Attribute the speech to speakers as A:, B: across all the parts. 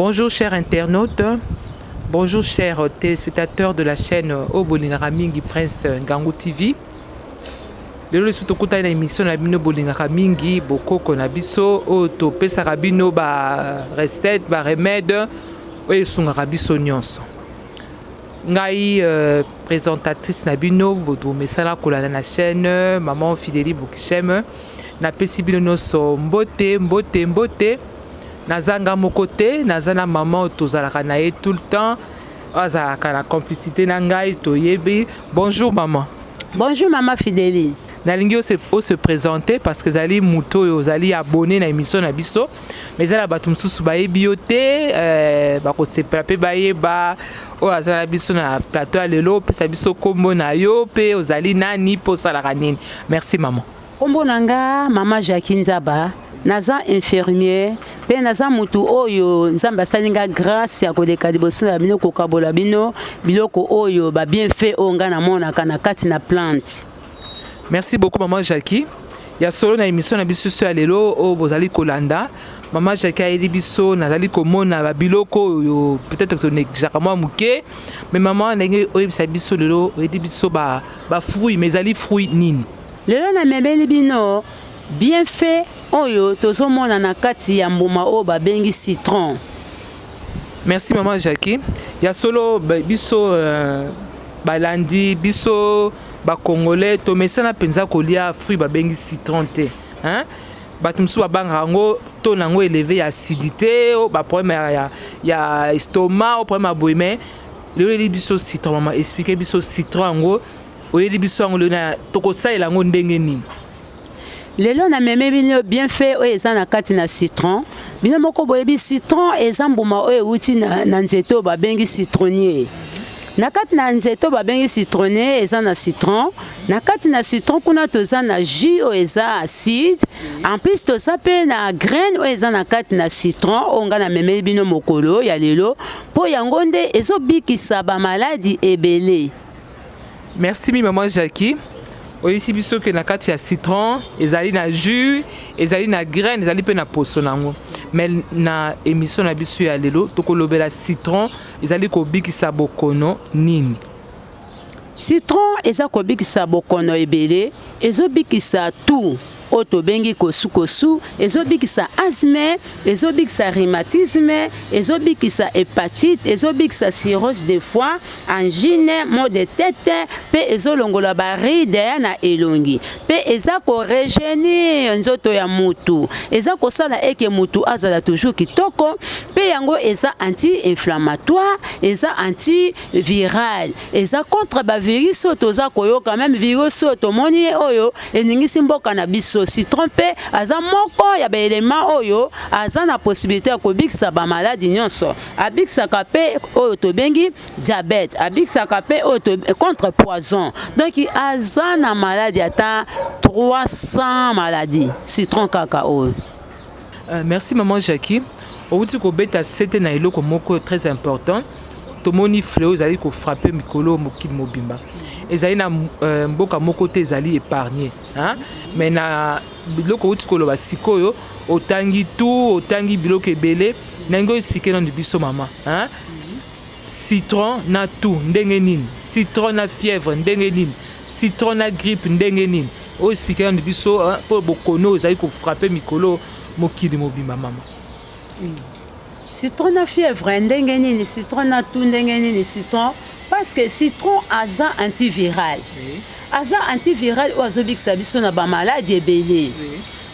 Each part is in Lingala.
A: Bonjour chers internautes, bonjour chers téléspectateurs de la chaîne Oboningaramingi Prince Ngangou TV. lelo lisusu tokutani na emission na bino bolingaka mingi bokoko na biso oyo topesaka bino ba recette ba remède oyo esungaka biso nyonso ngai euh, présentatrice na bino bomesana kolanda na chaîne maman fideli bokisheme napesi bino nyonso mbote mbote mbote nazanga moko te naza na maman oyo tozalaka na ye tout le temps azalaka na complicité na ngai toyebi bonjour maman bonjour maman
B: fideli nalingi
A: ose présente parce que ezali moto oyo ozali abonné na émission na biso mais ezala bato mosusu bayebi yo te euh, bakosepela mpe bayeba oyo aza na biso na plateau ya lelo opesa biso nkombo na yo mpe ozali nani mpe osalaka nini merci maman Kombo na nga
B: mama Jackie Nzaba naza infirmier mpe naza motu oyo nzambe asali nga grâce ya koleka liboso na bino kokabola bino biloko oyo ba bienfait oyo ngai namonaka na kati na plante merci
A: beaucoup maman jackie ya solo na émission na biso so ya lelo oyo bozali kolanda mama jackie ayeli biso nazali komona babiloko oyo peut-être tonekisaka mwa moke mais mama ndenge oyebisa biso lelo oyeli biso bafruit mais ezali fruit nini Lelo namemeli
B: bino bienfait oyo tozomona na kati ya mbuma oyo babengi citron.
A: Merci maman Jackie. Ya solo biso euh, balandi biso ba congolais tomesana mpenza kolia fruit babengi citron te hein? bato mosusu babangaka yango to na yango eleve ya acidité oh, baproblème ya, ya, ya estomac o oh, problème ya boye mai lelo eli biso citron mama explike biso citron yango oyeli biso yango lelo tokosalela yango ndenge nini lelo
B: nameme bino bienfait oyo eza na kati na citron bino moko boyebi citron eza mbuma oyo euti na, na nzete oyo babengi citronnier na kati na nzete oyo babengi citronnier eza na citron na kati na citron kuna toza na jus oyo eza acide en plus toza mpe na graine oyo eza na kati na citron oyo ngai namemeli bino mokolo ya lelo mpo yango nde ezobikisa bamaladi ebele
A: Merci mi maman Jackie. oyebisi biso ke na kati ya citron ezali na jus ezali na graine ezali mpe na poso na yango mais na émission na biso ya lelo tokolobela citron ezali kobikisa bokono nini
B: citron eza kobikisa bokono ebele ezobikisa tout oyo tobengi kosukosu ezobikisa asthme ezobikisa rhumatisme ezobikisa hepatite ezobikisa cirrhose de foie angine maux de tete mpe ezolongola baride na elongi mpe eza koregenir nzoto ya mutu eza kosala eke mutu azala toujours kitoko mpe yango eza anti-inflammatoire eza antiviral eza contre ba virus oyo toza koyoka meme virus oyo tomoni ye oyo eningisi mboka na biso citron mpe aza moko ya baelema oyo aza na possibilité ya kobikisa bamaladi nyonso abikisaka mpe oyo tobengi diabete abikisaka mpe oyo contre poison donc aza na maladi ata 300 maladi citron kaka oyo Euh, merci
A: maman Jackie. Outi kobeta sete na eloko moko très important. Tomoni fleo ezali kofrape mikolo mokili mobimba. ezali na euh, mboka moko te ezali épargne mais na biloko outi koloba sikoyo otangi tout otangi biloko ebele ndenge oexplike nanu biso mama hein? Citron na toux ndenge nini? Citron na fièvre ndenge nini? Citron na grippe ndenge nini? O expliquer nanu biso po bokono ozali ko frapper mikolo mokili mobimba mama. Hmm. Citron
B: na fièvre ndenge nini? Citron na toux ndenge nini? Citron parce que citron aza antiviral. Oui. aza antiviral oyo azobikisa biso na bamaladi ebele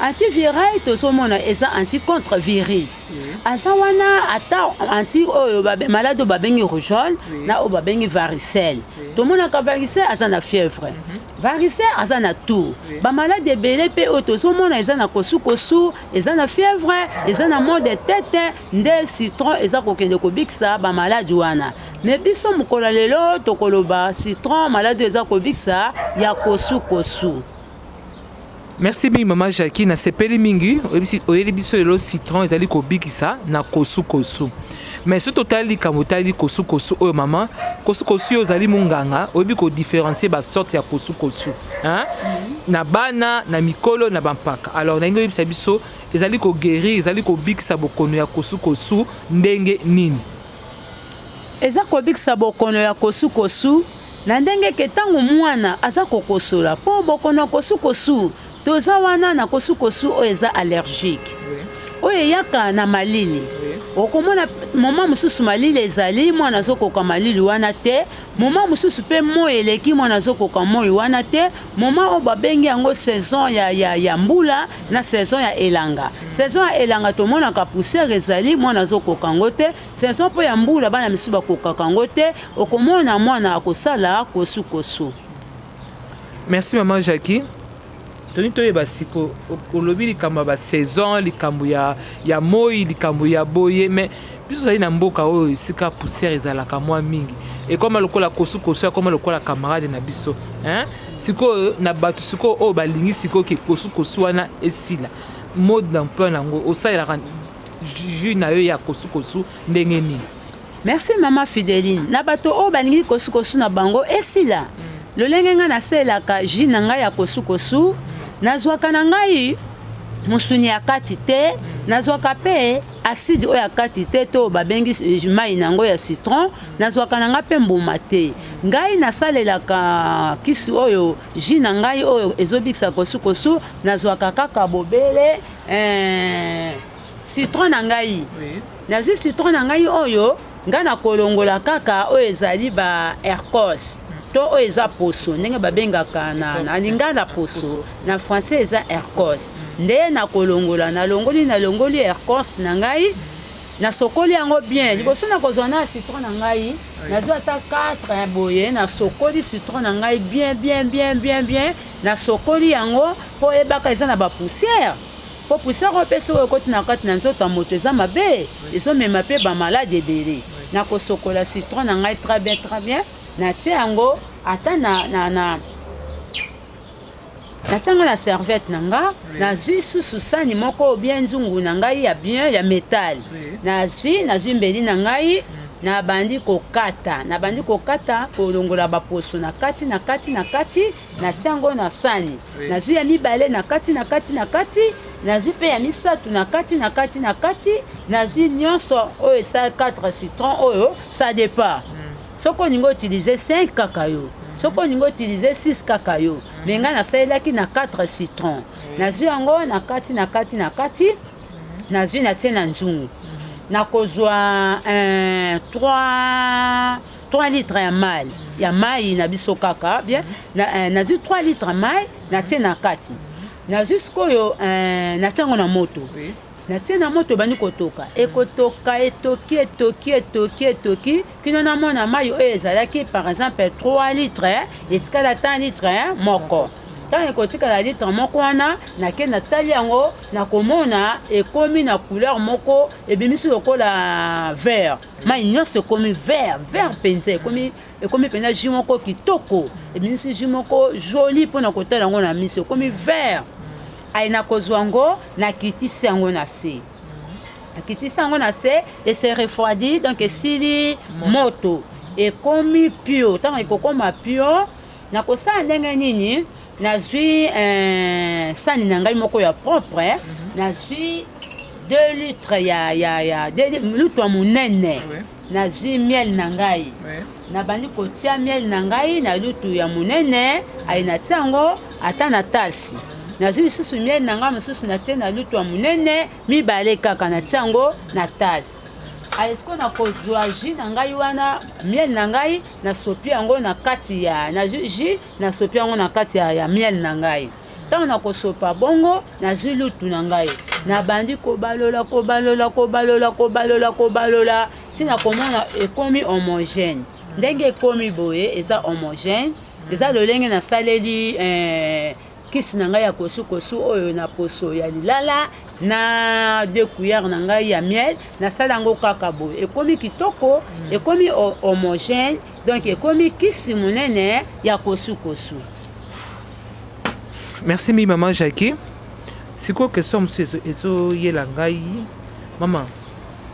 B: antiviral tozomona eza anti contre virus aza wana ata anti oyo maladi oyo babengi rougeole na oyo babengi varicelle tomonaka varicelle aza na fièvre mhm. varicelle aza na tour bamaladi ebele mpe oyo tozomona eza na kosukosu eza na fièvre eza na mode tete nde citron eza kokende kobikisa bamaladi wana me biso mokolo ya lelo tokoloba citron maladi eza kobikisa ya kosukosu
A: merci mingi mama jacqui nasepeli mingi oyeli biso lelo citron ezali kobikisa na kosukosu me soki totali likambo otali kosukosu oyo mama kosukosu yo ozali monganga oyebi kodiferencie basorte ya kosukosu na bana na mikolo na bampaka alors nalingi oyebisa biso Ezali ko guerir, ezali kobikisa bokono ya kosukosu ndenge nini?
B: Eza kobikisa bokono ya kosukosu na ndenge ke ntango mwana aza kokosola mpo bokono ya kosukosu toza wana na kosukosu oyo eza allergique oyo eyaka na malili okomona moma mosusu malili ezali mwana azokoka malili wana te moma mosusu mpe moi eleki mwana azokoka moi wana te Moment oyo babengi yango saison ya, ya, ya mbula na saison ya elanga. Saison ya elanga tomonaka poussière ezali, mwana azokoka yango te. Saison mpo ya mbula bana misusu bakokaka yango te, okomona mwana akosala kosukosu.
A: Merci maman Jackie. toni toyeba siko olobi likambo ya basaison likambo ya, ya moi likambo ya boye mais Biso tozali na mboka oyo esika poussière ezalaka mwa mingi, ekoma lokola kosukosu akoma lokola camarade na biso hein? Sikoyo na bato sikoyo oyo balingi sikoyo ke kosukosu wana esila, mode d'emploi nango osalelaka jus na yo ya kosukosu ndenge nini? Merci mama
B: Fideline, na bato oyo balingi kosukosu na bango esila, lolenge ngai nasalelaka jus na ngai ya kosukosu, nazwaka na ngai mosuni ya kati te, nazwaka mpe aside oyo akati te to babengi mai na yango ya citron nazwaka na ngai mpe mbuma te ngai nasalelaka kisi oyo ji na ngai oyo ezobikisa kosukosu nazwaka kaka bobele eh, citron na ngai nazwi citron na ngai oyo Nga na kolongola kaka oyo ezali ba ercos to oyo eza poso ndenge babengaka na, na lingala poso na français eza ercos nde na kolongola nalongoli nalongoli ercos na ngai nasokoli yango bien liboso na kozwa na citron na ngai nazwa ata 4 boye nasokoli citron na ngai bien bien bien bien bien nasokoli yango mpo oyebaka eza na bapoussière Po poussière oyo pe soki ekoti na kati na nzoto ya moto eza mabe, ezo mema pe ba malade ebele. Na ko sokola citron na ngai très bien très bien, na tie yango ata na na na natianga na serviette na nga nazwi susu sani moko bien nzungu na ngai ya bien ya metal nazwi nazwi mbeli na ngai mm. nabandi kokata nabandi kokata kolongola baposo na kati na kati na kati natia yango na sani nazwi ya mibale na kati na kati na kati nazwi mpe ya misato na kati na kati na kati nazwi nyonso oyo esa 4 citron oyo ça départ hmm. soki olingi utilize 5 kaka yo hmm. soki olingi utilize 6 kaka yo hmm. me ngai nasalelaki na 4 citron nazwi yango na kati na kati na kati nazwi natie na nzungu nakozwa 3 3 litre ya mai ya mai na biso kaka bien eh, nazwi 3 litre mai natie na kati nazwi sikoyo eh, natie yango na moto natie na moto ebandi kotoka ekotoka etoki etoki etoki etoki kino namona mai oyo ezalaki par exemple 3 litre etikala ata litre moko ntango ekotikala litre moko wana nake natali yango nakomona ekomi na couleur moko ebimisi lokola vert mai nyonso ekomi vert vert mpenza ekomi ekomi mpenza jus moko kitoko ebimisi jus moko joli mpo na kotala yango na miso ekomi vert aye nakozwa yango nakitisi yango na se akitisi yango na se ese refroidi donc esili moto ekomi pio ntango ekokoma pio Nakosala ndenge nini? Nazwi eh, sani na ngai moko ya propre, eh. mhm. nazwi 2 litre ya, ya, ya lutu ya monene, nazwi miel na ngai nabandi kotia miel na ngai na lutu ya monene aye natia yango ata na tasi nazwi lisusu miel na ngai mosusu natie na lutu ya monene mibale kaka natia yango na tasi ayesko nakozwa jus na ngai wana miel na ngai nasopi yango na kati ya na jus nasopi yango na kati ya, ya miel na ngai ntango nakosopa bongo nazwi lutu na ngai nabandi kobalola kobalola kobalola kobalola kobalola ntina komona ekomi homogène ndenge ekomi boye eza homogène eza lolenge nasaleli eh, kisi na ngai ya kosukosu oyo na poso ya lilala na de cuillère na ngai ya miel nasala yango kaka boye ekomi kitoko mm. ekomi homogène donc ekomi kisi monene ya kosukosu
A: merci mingi mama jacquie sikoyo question mosusu ezoyela ngai mama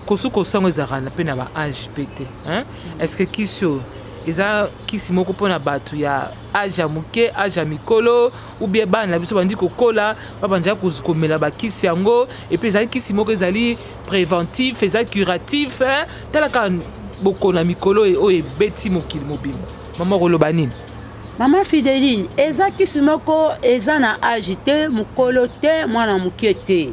A: kosukosu yango ezalaka mpe na ba age mpe te est ce que kisi oyo eza kisi moko mpo na bato ya age ya moke age ya mikolo ou bien bana na biso bandi kokola babandaki ko- komela bakisi yango epuis ezali kisi moko ezali préventif eza curatif hein? tala kaka bokono ya mikolo e- oyo ebeti mokili mobimba mama okoloba nini mama fideline
B: eza kisi moko eza na age te mokolo te mwana moke te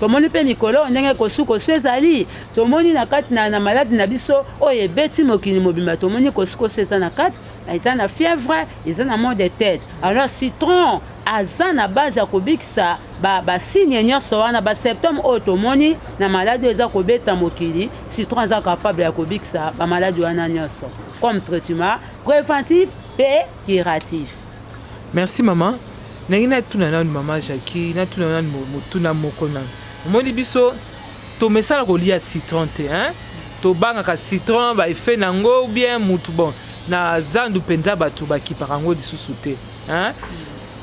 B: Tomoni mpe mikolo oyo ndenge kosukosu ezali, tomoni na kati na, na maladi na biso oyo ebeti mokili mobimba, tomoni kosukosu eza na kati, eza na fièvre, eza na mot de tête. Alors citron aza na base ya kobikisa basigne ba nyonso wana basymptome oyo tomoni na maladi oyo eza kobeta mokili, citron aza capable ya kobikisa bamaladi wana nyonso comme traitement préventif mpe curatif. Merci
A: maman. Nangi natuna nanu maman Jackie, natuna nanu motuna moko nanu. Omoni biso tomesana kolia citron te hein? Tobangaka citron ba effet nango ou bien mutu bon na zandu mpenza bato bakipaka yango lisusu te hein?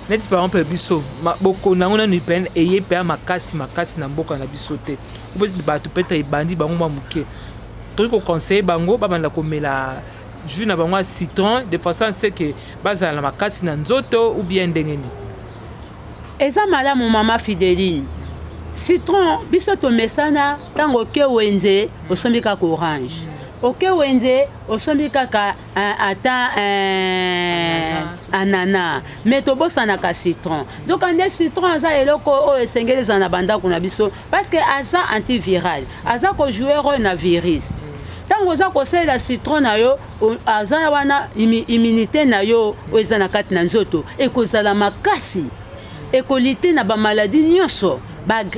A: neti par exemple biso bokonda yango nanu epene eye mpenza makasi makasi na mboka na biso te bato mpe ebandi bango mwa moke tokoki koconseille bango babanda komela jus na bango ya citron de façon à ce que bazala na makasi na nzoto ou bien ndenge nini
B: eza malamu mama fideline citron biso tomesana ntango oke wenze osombi kaka orange oke wenze osombi kaka eh, ata eh, anana me tobosanaka citron nzoka nde citron aza eloko oyo esengeli ezala na bandako na biso parce que aza antiviral aza ko jouer role na virus ntango oza kosalela citron na yo aza wana immunité na yo oyo eza na kati na nzoto ekozala makasi ekolite na bamaladi nyonso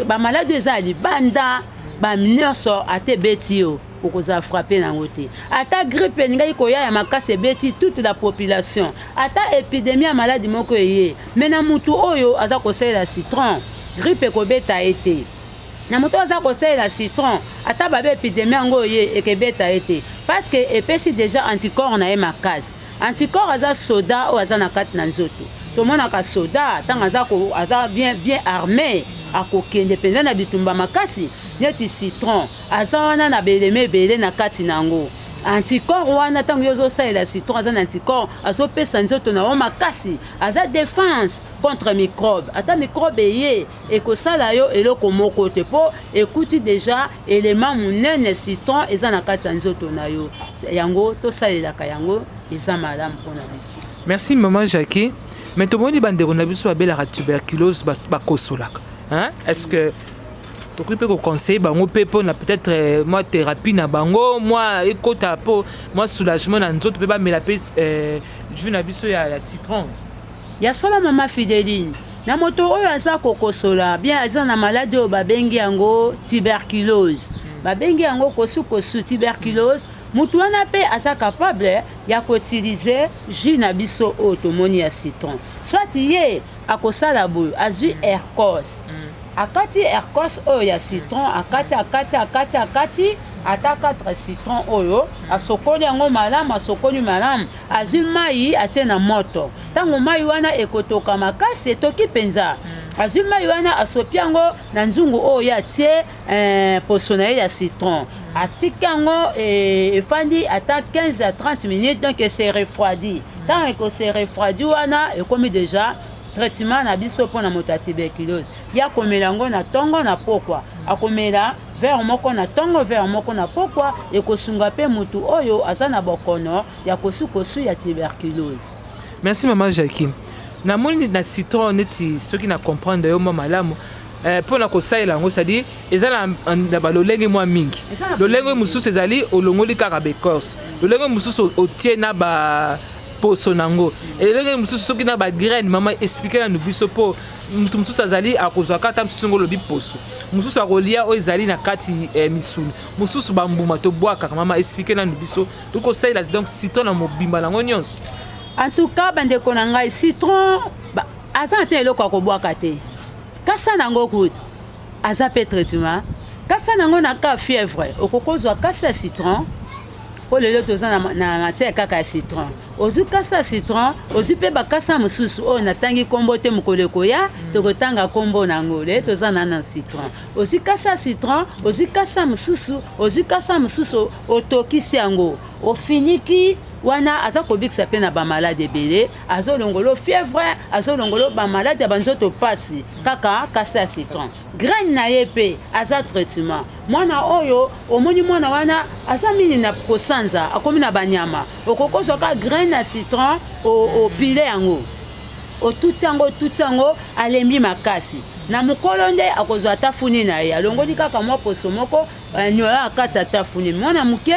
B: bamaladi ba eza ya libanda banyonso ata ebeti yo okozala frappe na yango te ata grippe elingaki koya ya makasi ebeti toute la population ata epidemie ya maladi moko eye me na motu oyo aza kosalela citron grippe ekobeta ye te na moto aza kosalela citron ata babe epidemie yango oye ekebeta ye te parce que epesi déjà anticorps na ye makasi anticorps aza soda oyo aza na kati na nzoto tomonaka soda ntango aza, aza bien, bien arme akokende mpenza na bitumba makasi neti citron aza wana na belema ebele na kati na yango anticorps wana ntango yo ozosalela citron aza na anticorps azopesa nzoto na yo makasi aza defense contre microbe ata microbe eye ekosala yo eloko moko te mpo ekuti deja elema monene citron eza na kati ya nzoto na yo yango tosalelaka yango eza malamu mpo na biso merci maman
A: jacquet mais tomoni bandeko na biso babelaka tuberculose bakosolaka est ce que tokoki mpe koconseille bango mpe mpo na peut-être euh, mwa thérapie na bango mwa ekota mpo mwa soulagement na nzoto mpe bamela mpe euh, jus na biso ya, ya citron ya solo
B: mama fideline na moto oyo aza kokosola bien aza na maladi oyo babengi yango tuberculose hmm. babengi yango kosukosu tuberculose moto wana mpe aza capable ya koutilize jus na biso oyo tomoni ya citron soit ye akosala boye azwi hmm. aircos mm. Akati erkos oyo ya citron, akati akati akati akati ata 4 citron oyo asokoli yango malamu, asokoli malamu, azwi mai atie na moto. Ntango mai wana ekotoka makasi, etoki mpenza azwi mai wana asopi yango na nzungu oyo ye atie eh, poso na ye ya citron atika yango eh, efandi ata 15 à 30 minutes donc ese refroidi ntango ekose refroidi wana ekomi deja traitement na biso mpo na moto ya tuberculose ye akomela yango na ntongo na pokwa akomela vere moko na ntongo vere moko na pokwa ekosunga mpe motu oyo aza na bokono ya kosukosu ya tuberculose merci mama
A: jacquine namoni na citron neti soki na comprendre yo mwa malamu eh, mpo na kosalela yango cestadire eza na balolenge mwa mingi lolenge mosusu ezali olongoli kaka baecorce lolenge mosusu otie na ba poso na yango elenge mosusu soki na bagraine mama explike nanu biso mpo moto mosusu azali akozwa kata mosusu ngo olobi poso mosusu akolia oyo ezali na kati eh, misuni mosusu bambuma tobwakaka mama explike nanu biso toki kosalela donc citron na mobimba nango nyonso en
B: tout cas bandeko na ngai citron aza na te eloko ya kobwaka te kasa na yango kutu aza mpe traitement kasa na yango na ka fièvre okoki kozwa kasa ya citron mpo lelo toza na, na matière kaka ya citron ozwi kasa ya citron ozwi mpe bakasa mosusu oyo natangi nkombo te mokolo ekoya mm. tokotanga nkombo na yango lelo toza na na citron ozwi kasa ya citron ozwi kasa mosusu ozwi kasa mosusu otokisi yango ofiniki wana aza kobikisa mpe na bamaladi ebele azolongolo fièvre azolongolo bamaladi ya banzoto mpasi kaka kasa ya citron graine na ye mpe aza traitement mwana oyo omoni mwana wana aza mingi na kosanza akomi na banyama okokozwa ka graine ya citron opile yango otuti yango otuti yango alembi makasi na mokolo nde akozwa ata funi na ye alongoli kaka mwa poso moko eh, nyola akati ata funi mwana moke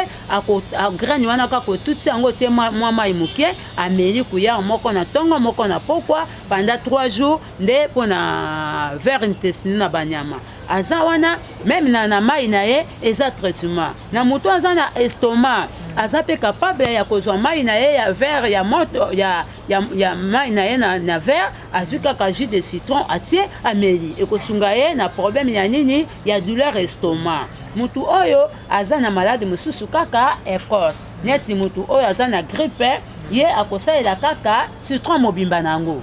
B: graine wana kaka otuti yango otie mwa mai moke ameli kuyare moko na ntongo moko na pokwa panda 3 jours nde mpo na vere intestino na banyama aza wana meme na, na mai na ye eza traitement na moto aza na estomac aza mpe capable ya kozwa mai na ye ya verre ya moto ya, ya, ya mai na ye na, na verre azwi kaka jus de citron atie ameli ekosunga ye na problème ya nini ya douleur estomac motu oyo aza na maladi mosusu kaka ecorce neti motu oyo aza na grippe ye akosalela kaka citron mobimba na yango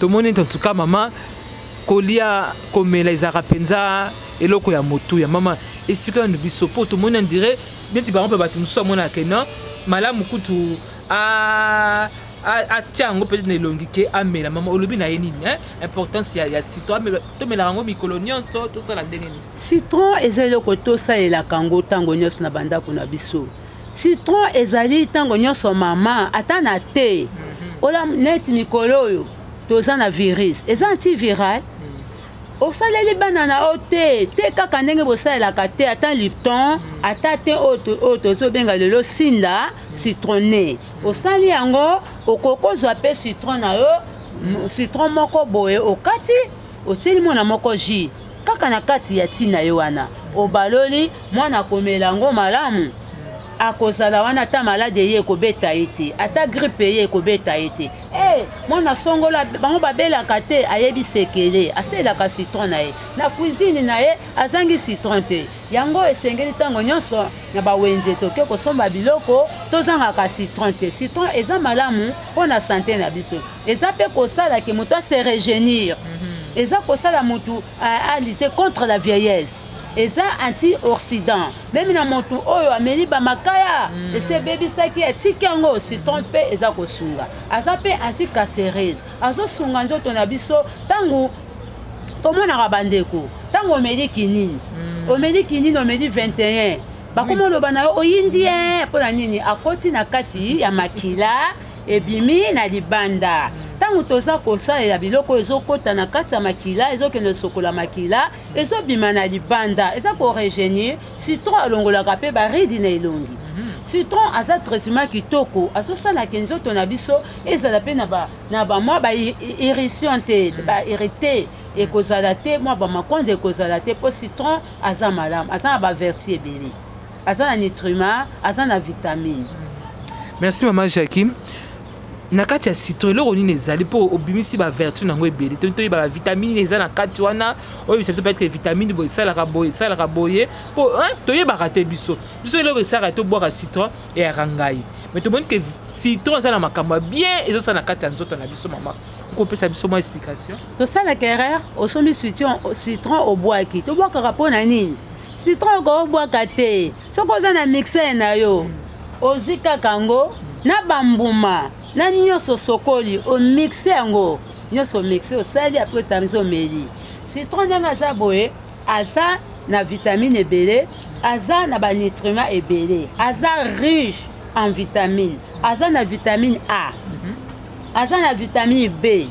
B: tomoni
A: ete entuka mama kolia komela ezalaka mpenza eloko ya motu ya mama esplike nanu biso mpo tomoni andire neti bango mpe bato mosusu amonaka ke non malamu kutu atya yango peut-être na elongi ke amela mama olobi na ye nini importance ya, ya citron amela tomelaka yango mikolo nyonso tosala ndenge nini citron eza eloko
B: tosalelaka yango ntango nyonso na bandako na biso Citron ezali ntango nyonso mama, ata na te. Mhm. Ola neti mikolo oyo toza na virus, eza antiviral. Mhm. Osaleli bana na yo te te kaka ndenge bosalelaka te ata lipton mhm. ata te oyo tozobenga lelo sinda citrone osali yango okokozwa mpe citron na yo citron moko boye okati Otieli mwana moko jus kaka na kati ya ti na ye wana obaloli mwana akomela yango malamu akozala wana ata maladi eye ekobeta ye te ata gripe eye ekobeta ye te hey, eh, mwana songola bango babelaka te ayebi sekele aselaka citron na ye na cuisine na ye azangi citron te yango esengeli ntango nyonso na bawenze toke kosomba biloko tozangaka citron te citron eza malamu mpo na sante na biso eza mpe kosala ke moto ase regenir mhm. eza kosala moto alite contre la vieillesse eza anti-occident meme na moto oyo ameli bamakaya mm. esi ebebisaki atiki yango citron mpe eza kosunga aza mpe anti-cacerise azosunga nzoto na biso ntango tomonaka bandeko ntango omeli kinini mm. omeli kinini omeli 21 bakoma oloba na yo oyindi ye mpo na nini akoti na kati ya makila ebimi na libanda ntango toza kosalela biloko oyo ezokɔta na kati ya makila ezokende sokola makila ezobima na libanda eza koregenir citron alongolaka mpe baridi na elongi mhm. citron aza traitement kitoko azosalaka nzoto na biso ezala mpe na bamwa bairrition te mhm. bairrite ekozala te mwa bamakonzi ekozala te mpo citron aza malamu aza na baverti ebele aza na nitrima aza na vitamine merci
A: mama jacquim na kati ya citron eloko nini ezali mpo obimisi bavertu na yango ebele to toyeba bavitamine eza na kati wana oyebisa biso peut-être vitamine boye esalaka boye esalaka boye mpo toyebaka te biso biso eloko esalaka tobwaka citron eyaka ngai mais tomoni ke citron eza na makambo ya bien ezosala na kati ya nzoto na biso mama okopesa biso mwa explication tosalaka erreur
B: osombi citron obwaki tobwakaka mpo na nini citron okobwaka te soki oza na mixer na yo ozwi kaka yango na bambuma na nyonso osokoli omixe yango nyonso omixe osali apres otamisi omeli citron ndenge aza boye aza na vitamine ebele aza na banutriment ebele aza riche en vitamine aza na vitamine a aza na vitamine b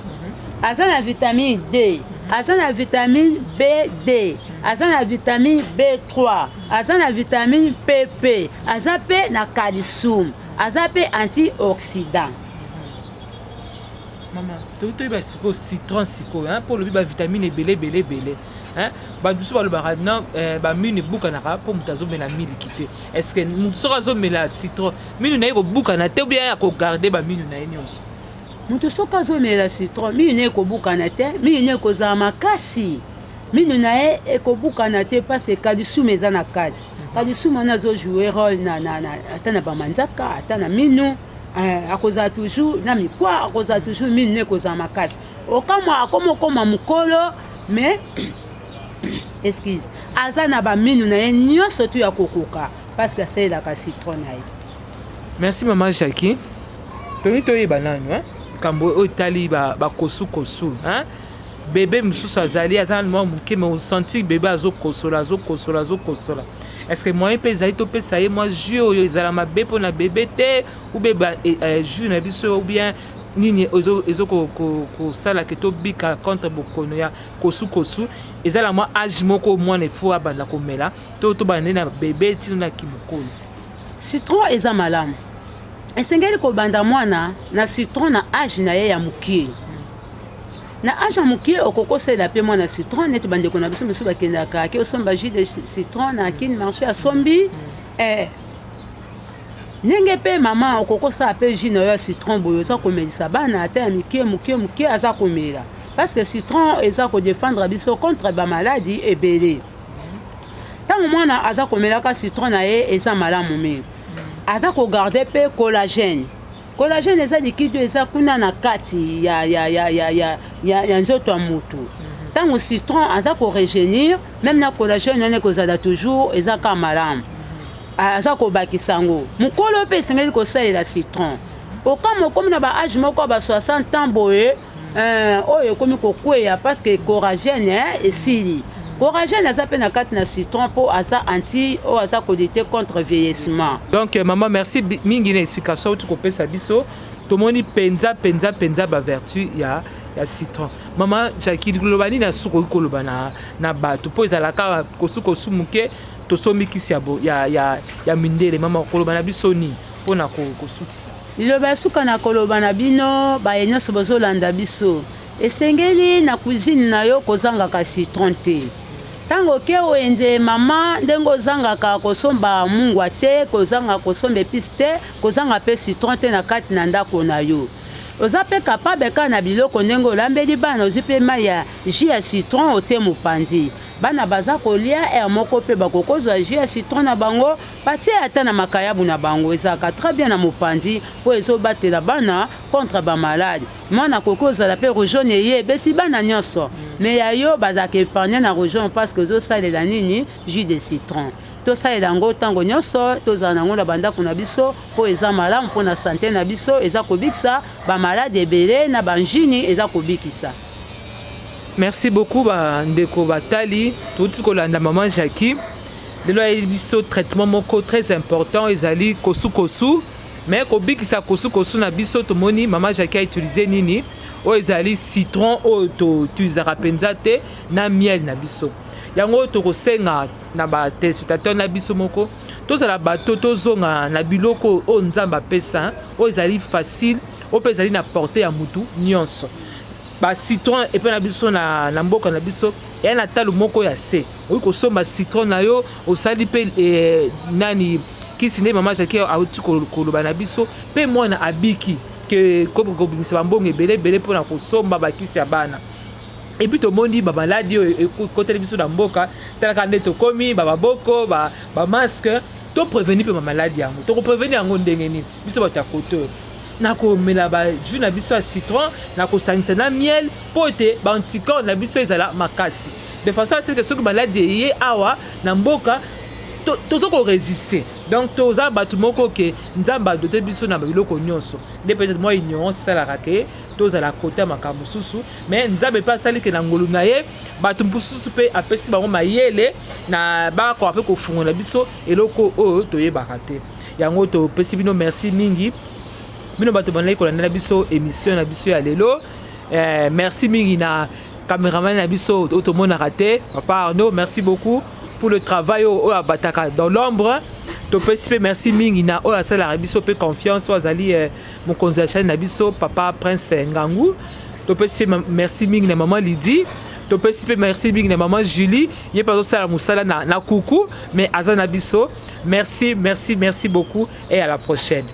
B: aza na vitamine d aza na vitamine bd aza na vitamine b3 aza na vitamine pp aza mpe na calcium aza mpe antioxydant
A: mama toki toyeba sikoyo citron sikoyo mpo olobi bavitamine ebele ebele ebele bato mosusu balobaka na eh, bamini ebukanaka mpo moto azomela miliki te est ce que soki azomela citron minu na ye kobukana te obiya ya kogarde baminu na ye nyonso moto soki
B: azomela citron minu na ye ekobukana te minu na ye ekozala makasi minu na ye ekobukana te mpasi kalisuma eza na kati kalisuma wana azojoue role na, na, na, ata na bamanzaka ata na minu eh, akozala toujours na mikwa akozala toujours minu na ye ekozala makasi okamwa akoma okoma mokolo mais excuse aza na baminu na ye nyonso tu ya kokoka parceke asalelaka citron na ye merci
A: mama jacqui tolingi toyeba nanu eh? likambo oyo etali bakosukosu ba bebe mosusu azali aza na mwa moke me osanti bebe azokosola azokosola azokosola estce moyen mpe ezali topesa ye mwa jus oyo ezala mabe mpo na bebe te ube eh, eh, jus na biso ou bien nini ezokosala ke tobika contre bokono ya kosu kosu eza na mwa age moko mwana efo abanda komela to tobanda nde na bebe ntina na kimokolo citron
B: eza malamu esengeli kobanda mwana na citron na age na ye ya mokie na age ya mokie okokosela mpe mwana citron neti bandeko na biso mosusu bakendaka ke osomba jus de citron na kine marché asombi eh, ndenge mpe mama okoki osala mpe jus na yo ya citron boye oza komelisa bana ata ya mike moke moke aza komela parce que citron eza kodefendre biso contre bamaladi ebele ntango mwana aza komelaka citron na ye eza malamu mingi aza kogarde mpe collagène Collagène eza liquide oyo eza kuna na kati ya, ya, ya, ya, ya, ya, ya nzoto ya motu ntango mhm. citron aza koregenir meme na collagène wana ekozala toujours eza ka malamu aza kobakisa yango mokolo mpe esengeli kosalela citron okama okomi na baage moko ya ba 60 ans boye Euh, oyo ekomi kokweya parce que coragène hein, esili coragène aza mpe na kati na citron mpo aza anti oyo aza kolite contre vieillissement donc euh, maman merci
A: mingi na explication outi kopesa biso tomoni mpenza mpenza mpenza bavertu ya ya citron mama jaki liloba nini asusu koki koloba na, na bato mpo ezalaka kosukosu moke tosombi kisi ya, ya, ya, ya mindele mama koloba na biso nini mpo na kosukisa Liloba ya suka
B: na koloba na bino baye nyonso bozolanda biso, esengeli na cuisine na yo kozangaka citron te. Ntango oke wenze mama ndenge ozangaka kosomba mungwa te, kozanga kosomba epice te, kozanga mpe citron te na kati na ndako na yo. Oza mpe capable kaka na biloko ndenge olambeli bana, ozwi mpe mai ya jus ya citron otie mopanzi. Bana baza kolia heure moko mpe bakokozwa jus ya citron na bango Batie ata na makayabu na bango ezalaka très bien na mopanzi mpo ezobatela bana contre ba malade. Mwana akoki kozala mpe region eye ebeti bana nyonso me ya yo bazalaka epargne na region parce que ezosalela nini jus de citron tosalela yango ntango nyonso tozala na yango na bandako na biso mpo eza malamu mpo na sante na biso eza kobikisa bamaladi ebele na banjini eza kobikisa
A: merci beaucoup bandeko batali touti kolanda mama jacqui lelo ayebi biso traitement moko très important ezali kosukosu mais kobikisa kosukosu na biso tomoni mama jaki autilize nini oyo ezali citron oyo toutilisaka mpenza te na miel na biso yango tokosenga na batelespectateur na biso moko tozala bato tozonga na biloko oyo nzambe apesa oyo ezali facile oyo mpe ezali na porte ya motu nyonso bacitron epai na biso na, na mboka na biso eya na talo moko ya se oyi kosomba citron na yo osali mpe eh, nani kisi nde mama jaki auti koloba na biso mpe mwana abiki ke kobimisa bambongo ebele ebele mpo na kosomba bakisi ya bana epuis tomoni bamaladi oyo ekoteli biso na mboka talaka nde tokomi bamaboko bamaske ba topreveni mpe bamaladi yango tokopreveni yango ndenge nini biso bato ya kote oyo nakomela bajus na biso ya citron nakosangisa na miel mpo ete baanticorps na biso ezala makasi de façon à ce que soki maladi eye awa na mboka toza koresiste donc toza bato moko ke nzambe adote biso na biloko nyonso nde peut-être mwa ignorance esalaka ke tozala kota makambo mosusu mais nzambe mpe asali ke na ngolu na ye bato mosusu mpe apesi bango mayele na bakoka mpe kofungola biso eloko oyo toyebaka te yango topesi bino merci mingi bino bato bandaki kolandela biso émission na biso ya lelo eh, merci mingi na Cameraman na biso oyo tomonaka te papa Arnaud merci beaucoup pour le travail oyo abataka dans l'ombre topesi mpe merci mingi na oyo asalaka biso mpe confiance oyo azali eh, mokonzi ya chaine na biso papa prince ngangu topesi mpe merci mingi na mama lidi topesi mpe merci mingi na mama julie ye mpe azosala mosala na, na kuku mais aza na biso merci merci merci beaucoup et à la prochaine